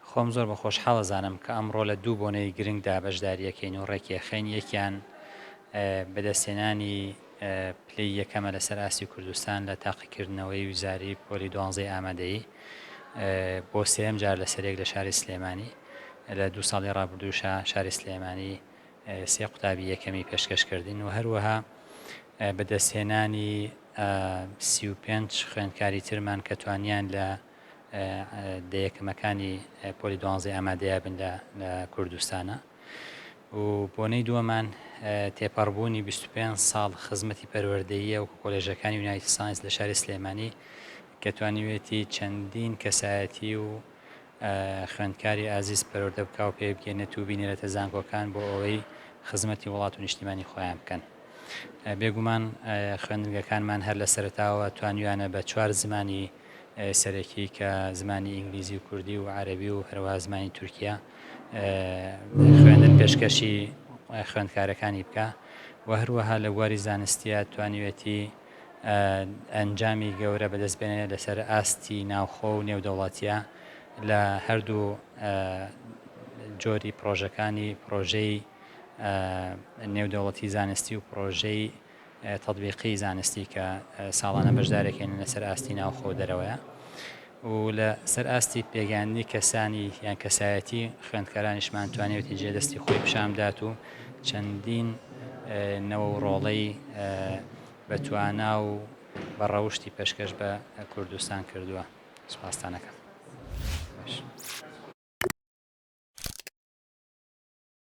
خۆم زۆر بە خۆشحاڵ ئەزانم کە ئەمڕۆ لە دوو بۆنەی گرنگدا بەشداری ئەکەین و ڕێکیئەخەین، یەکیان بەدەستهێنانی پلەی یەکەمە لەسەر ئاستی کوردستان لە تاقیکردنەوەی وزاری پۆلی دوانزەی ئامادەیی بۆ سێیەم جار لەسەریەک لە شاری سلێمانی، لە دوو ساڵی ڕابردووشا شاری سلێمانی سێ قوتابی یەکەمی پێشکەش کردین و هەروەها بەدەستهێنانی سی و پێنج خوێندکاری ترمان کە توانیان لە دە یەکەمەکانی پۆلی دوانزەی ئامادەیە بن لە کوردستانە و بۆنەی دووەمان تێپەڕبوونی 25 ساڵ خزمەتی پەروەردەیە و کۆلێژەکانی یونایتی ساینس لە شاری سلێمانی کە توانیوێتی چەندین کەسایەتی و خوێندکاری ئازیز پەروەردە بکە و پێ بگەێنێت و بینێرەتە زانکۆکان بۆ ئەوەی خزمەتی وڵات و نیشتیمانی خۆیان بکەن. بێگومان خوێندنگەکانمان هەر لە سەرتاوە توانیویانە بە چوار زمانی سەرەکی کە زمانی ئینگلیزی و کوردی و عەرەبی و هەروەها زمانی تورکیە خوێندن پێشکەشی خوێندکارەکانی بکە و هەروەها لە بواری زانستیە توانیوێتی ئەنجامی گەورە بەدەست بێنێ لەسەر ئاستی ناوخۆ و نێودەوڵاتیە لە هەردوو جۆری پرۆژەکانی پرۆژەی نێودەوڵەتی زانستی و پرۆژەی تەتبیقی زانستی کە ساڵانە بەشدارێکێنن لە سەر ئاستی ناوخۆ و دەرەوەیە و لە سەر ئاستی پێگەیاندنی کەسانی یان کەسایەتی خوێندکارانیشمان توانێتی جێ دەستی خۆی پیشان بدات و چەندین نەوە و ڕۆڵەی بە توانا و بە ڕەوشتی پێشکەش بە کوردستان کردووە سوپاستانەکەم.